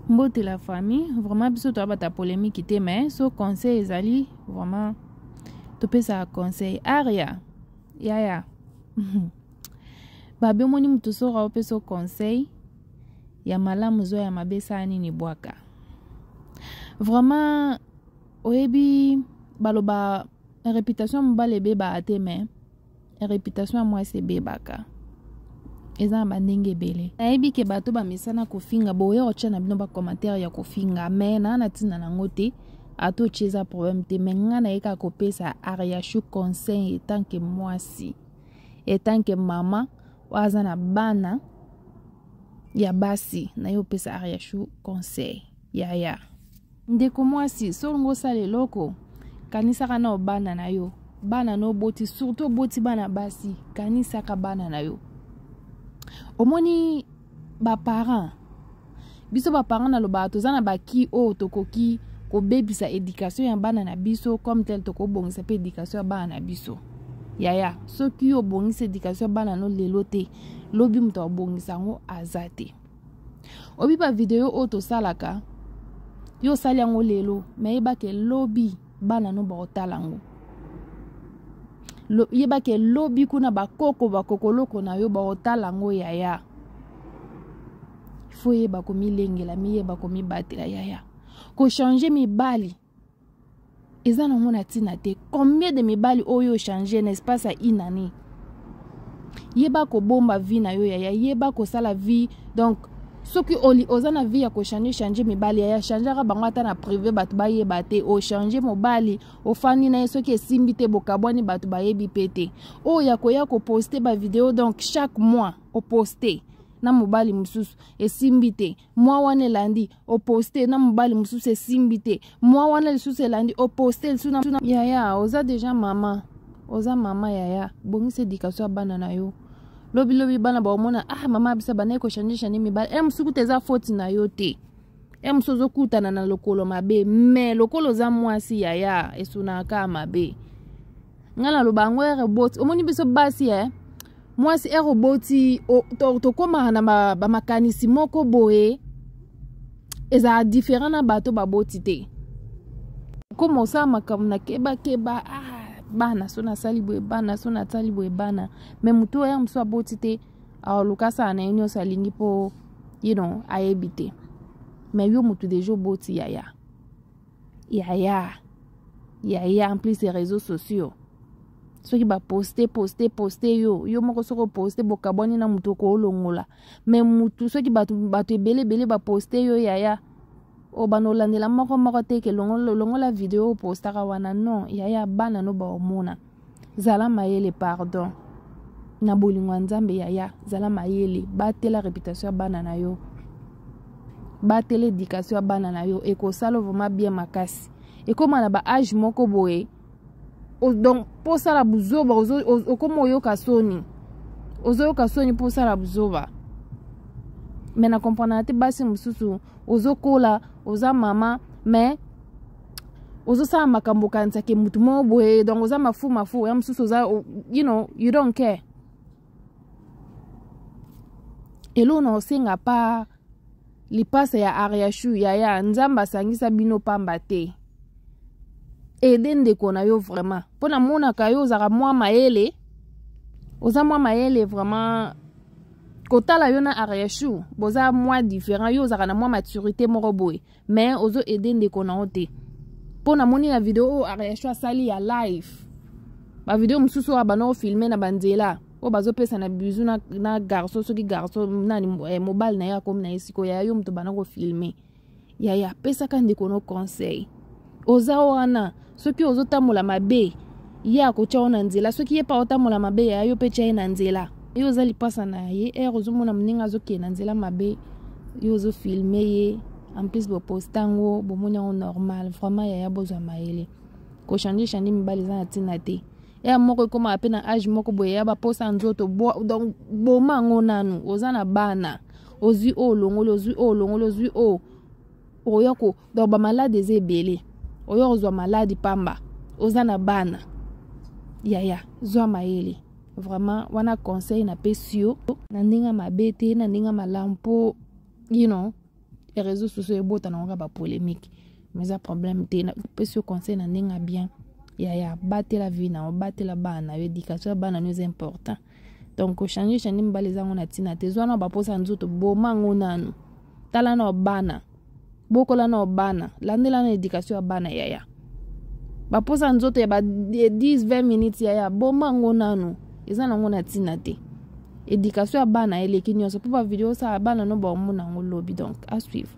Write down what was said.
mbote la famille vraiment biso toyabata polemique te mais so conseil ezali vraiment topesaka conseil aria yaya babe omoni moto soka opesa conseil ya malamu zwa ya mabe sala nini bwaka vraiment oyebi baloba reputation mobali ebebaka te mais reputation ya mwasi ebebaka eza na bandenge ebele nayebi ke bato bamesana kofinga boya otya na bino bacommentaire ya kofinga me naa na ntina nango te ata otya eza problème te me ngai naye kaka kopesa ariachou conseil etanke mwasi etanke mama oyo aza na bana ya basi naye opesa ariachou conseil yaya ndeko mwasi solongo osala eloko kanisaka na obana na yo bana na oboti surtout oboti bana basi kanisaka bana na yo omoni baparent biso baparent nalobaka toza na baki oyo tokoki kobebisa edikatio ya bana na biso comme tel tokobongisa mpe edikatio ya bana na biso yaya soki yo obongisi edikatio ya bana no lelo te lobi moto abongisa yango aza te obi ba video oyo tosalaka yo osali yango lelo me yebake lobi bana no bakotala yango yebake lobi kuna bakoko bakokoloko na yo bakotala yango yaya fo yeba komilengela miyeba komibatela yaya kochange mibali eza nango na ntina te combien de mibali oyo ochange na espace ya une année yeba kobomba vie na yo yaya yeba kosala vie donc soki oli oza na vie ya kochange change mibali yaya changaka bango ata na prive bato bayeba te ochange mobali ofandi na ye soki esimbi te bokabwani bato bayebi mpe te oyo ya koya koposte bavideo donc chaque mois oposte na mobali mosusu esimbi te mwa wana elandi oposte na mobali mosusu esimbi te mwa wana lisusu elandi oposte lisusu na yaya oza deja mama oza mama yaya bongisa edikatio ya bana na yo lobilobi bana baomona ah mama bisa bandaki kochange change mibali e mosusu kuta eza foti na yo te e mosusu ozokutana na lokolo mabe me lokola oza mwasi yaya esunaka mabe ngai naloba yango ere boti omoni biso basi e eh? mwasi ere oboti tokomaka na bamakanisi ba moko boye ezala different na bato baboti te okoma osala makambo na kebakeba ah, bana so nasali boye bana so nasali boye bana me motu oyo ere mosusu aboti te aoluka asala na ye nyonso alingi mpo you know ayebi te me yo motu deja oboti yaya yaya yaya en plus ya réseaux sociaux soki baposte poste poste yo yo moko soki oposte bokabwani na moto okoolongola me motu soki bato bato ebele ebele baposte yo yaya o bana olandela moko moko te ke longola video opostaka wana non yaya bana no baomona zala mayele pardon na bolingo ya nzambe yaya zala mayele batela reputation ya bana na yo batela edikatio ya bana na yo ekosala vraimen bien makasi ekóma na baage moko boye donc mpo osala buzoba okóma oyoka soni ozoyoka soni mpo osala buzoba me na komprenaka te basi mosusu ozokola oza mama me ozosala makambo okanisa ke motu moko boye donc oza mafu mafu ya mosusu oza you know you don't care eloo na osenga pa lipasa ya ariachu yaya nzambe asangisa bino pamba te ede ndeko na yo vraiment mpo namonaka yo ozalaka mwa mayele oza mwa mayele vraiment kotala yo na ariachu boza mwa différent yo ozalaka na mwa maturité moko boye mais ozo aide ndeko na yo te mpo namoni na video oyo areaction asali ya live bavideo mosusu oyo abanda kofilme na banzela oyo bazopesa na bizu na, na garso soki garso nani eh, mobali na ye akomi na ye sikoyo yaya yo moto banda kofilme yaya pesaka ndeko no conseil oza wana soki ozotambola mabe ye akotya yo na nzela soki ye mpe aotambola mabe ya yo mpe tya ye na nzela yo oza lipasa na ye ere ozomona moninga azokende na nzela mabe yo ozofilme ye en plus boposta yango bomoni yango normal vraiment yaya bozwa mayele kochange change mibali eza na ntina te ya moko ekomaka mpe na age moko boye ya baposa nzoto donc boma yango nanu oza na bana ozwi oyo olongoli ozwi oyo olongoli ozwi oyo okoya ko donc bamalade eza ebele oya kozwa maladi pamba oza na bana yaya zwa mayele vraiment wana conseil napesi yo na ndenge mabe te na ndenge malamu mpo you know réseau sociaux ebota nango kaka bapolémique mais eza problème te napesi yo conseil na ndenge ya bien yaya batela vie na yo batela bana na yo éducation ya bana na yo eza important donc kochange change mibali eza yango na ntina te zwa na baposa ya nzoto boma yango nanu tala na bana bokola na bana landela na edikatio ya bana yaya baposa ya nzoto ya ba 10-20 minutes yaya boma yango nanu eza nango na ntina te edikatio ya bana eleki nyonso mpo bavideo osala bana no baomona yango lobi donc asuivre